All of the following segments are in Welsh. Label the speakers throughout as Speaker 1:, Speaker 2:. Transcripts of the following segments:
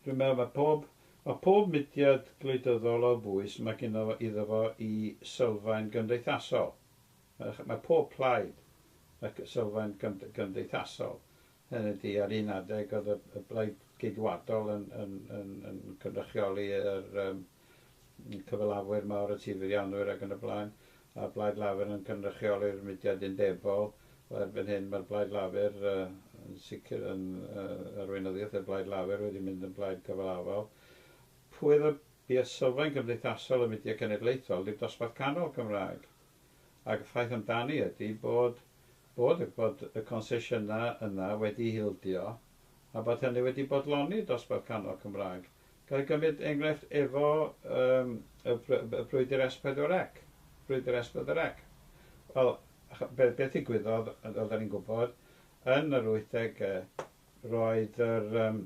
Speaker 1: Dwi'n meddwl mae pob, mae pob mudiad gwleidyddol o bwys mae gynno fo, iddo fo i sylfaen gymdeithasol. Mae, mae pob plaid ac sylfaen gymd, gymdeithasol. Hynny ydi, ar un adeg oedd y, y blaid geidwadol yn, yn, yn, yn cynrychioli yr, um, cyfalafwyr mawr y tirfeddianwyr ac yn y blaen, a'r Blaid Lafur yn cynrychioli'r mudiad undebol. Wel, erbyn hyn mae'r Blaid Lafur uh, yn sicr yn uh, arweinyddiaeth y Blaid Lafur wedi mynd yn blaid cyfalafol. Pwy oedd y bues sylfaen cymdeithasol y mudiad cenedlaethol, dim dosbarth canol Cymraeg. Ac y ffaith amdani ydy bod, bod, bod y concesiynau yna wedi hildio a bod hynny wedi bodloni dosbarth canol Cymraeg. Ga i gymryd enghraifft efo yym y br- y brwydr S pedwar ec? Brwydr S pedwar ec? Wel, ch- be- beth ddigwyddodd, yy fel 'dan ni'n gwbod, yn yr wythdege, roedd yr yym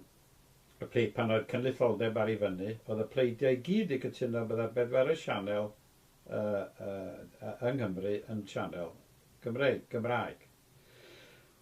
Speaker 1: y plei- pan oedd cynulleidfaoldeb ar ei fyny, oedd y pleidiau i gyd 'di cytuno bydda'r bedwerydd sianel yy yy yy yng Nghymru yn sianel Gymreig, Gymraeg.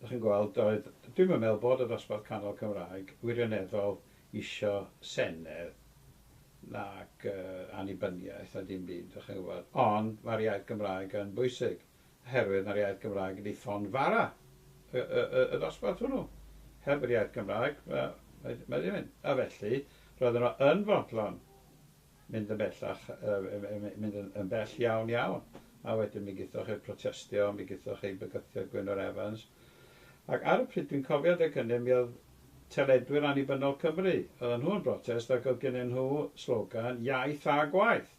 Speaker 1: Dach chi'n gweld, doedd, dwi'm yn meddwl bod y dosbarth canol Cymraeg wirioneddol isio senedd nac annibyniaeth na dim byd, dach chi'n gwybod, ond mae'r iaith Gymraeg yn bwysig, oherwydd mae'r iaith Gymraeg wedi ffon fara y, y, y, y ddosbarth hwnnw. Heb yr iaith Gymraeg, mae, mae, mae ddim yn. A felly, roedden nhw yn fodlon mynd yn bellach, mynd yn bell iawn iawn, a wedyn mi gaethoch eich protestio, mi gaethoch eich bygythio Gwynfor Evans. Ac ar y pryd, dwi'n cofio adeg hynny, mi oedd teledwyr annibynnol Cymru, oedd nhw'n brotest ac oedd gynnyn nhw slogan iaith a gwaith.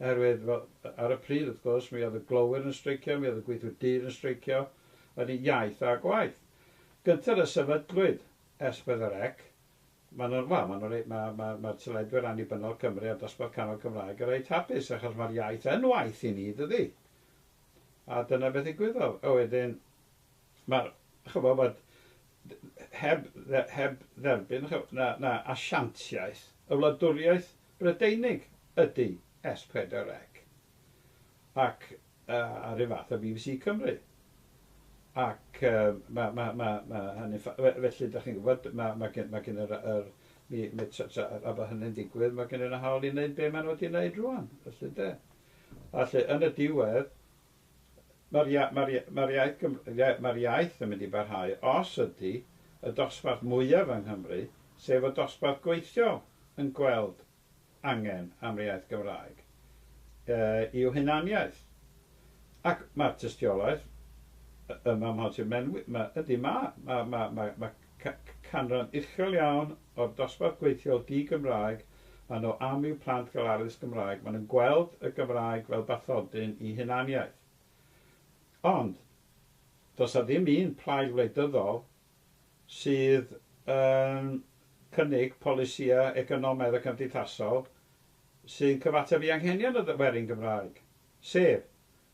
Speaker 1: Oherwydd, wel, ar y pryd, wrth gwrs, mi oedd y glowyr yn streicio, mi oedd y gweithwyr dir yn streicio, yn iaith a gwaith. Gynted y sefydlwyd Esbedd yr Ec, Maen nhw'n, wel, maen nhw'n rei-, ma', ma', ma'r teleduedd annibynnol Cymru a'r dosbarth canol Cymraeg yn reit hapus achos ma'r iaith yn waith i ni, dydi? A dyna beth ddigwyddodd. A wedyn, ma'r, ch'bo', ma'r, heb, heb dderbyn, ch'bo', na, na asiantiaeth, y wladwriaeth Brydeinig ydi S4C. Ac A'r un fath â bbc Cymru. Ac mae, mae, mae, mae hynny'n ffa-. Fe- felly, dach chi'n gwybod, mae, mae gen, mae gen yr, yr, mi, mi, tra, tra, a bod hynny'n digwydd, mae gen nhw hawl i wneud be maen nhw wedi wneud rwan, felly, ynde? A lle, yn y diwedd, mae'r ia, mae'r ia, mae'r iaith, Gym, ia, mae'r iaith yn mynd i barhau os ydy y dosbarth mwyaf yng Nghymru, sef y dosbarth gweithiol, yn gweld angen am yr iaith Gymraeg yw hunaniaeth. Ac mae'r tystiolaeth yma mham ti'n menwi, ydy, mae canran uchel iawn o'r dosbarth gweithiol di-Gymraeg a nhw am i'w plant gael addysg Gymraeg, maen nhw'n gweld y Gymraeg fel bathodyn i hunaniaeth. Ond, does 'na ddim un plaid wleidyddol sydd yn cynnig polisïau economaidd a cymdeithasol sy'n cyfateb i anghenion y werin Gymraeg, sef,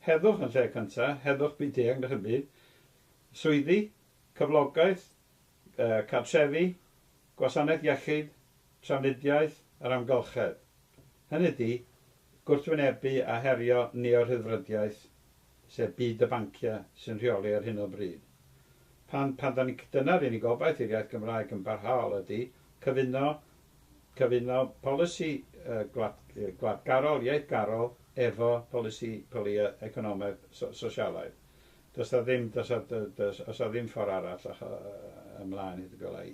Speaker 1: heddwch yn lle cyntaf, heddwch byd-eang na chym byd, swyddi, cyflogaeth, cartrefi, gwasanaeth iechyd, trafnidiaeth yr amgylchedd, hynny ydi, gwrthwynebu a herio neo-rhyddfrydiaeth, sef byd y banciau sy'n rheoli ar hyn o bryd. Pan, pan dan ni'n, dyna'r unig obaith i'r iaith Gymraeg yn barhaol ydi cyfuno, cyfuno polisi gwlad, gwladgarol, iaithgarol efo polisi polia economaidd, so, sosialaidd. Does 'na ddim, does 'na, does, oes 'na ddim ffordd arall ymlaen hyd y gwela i.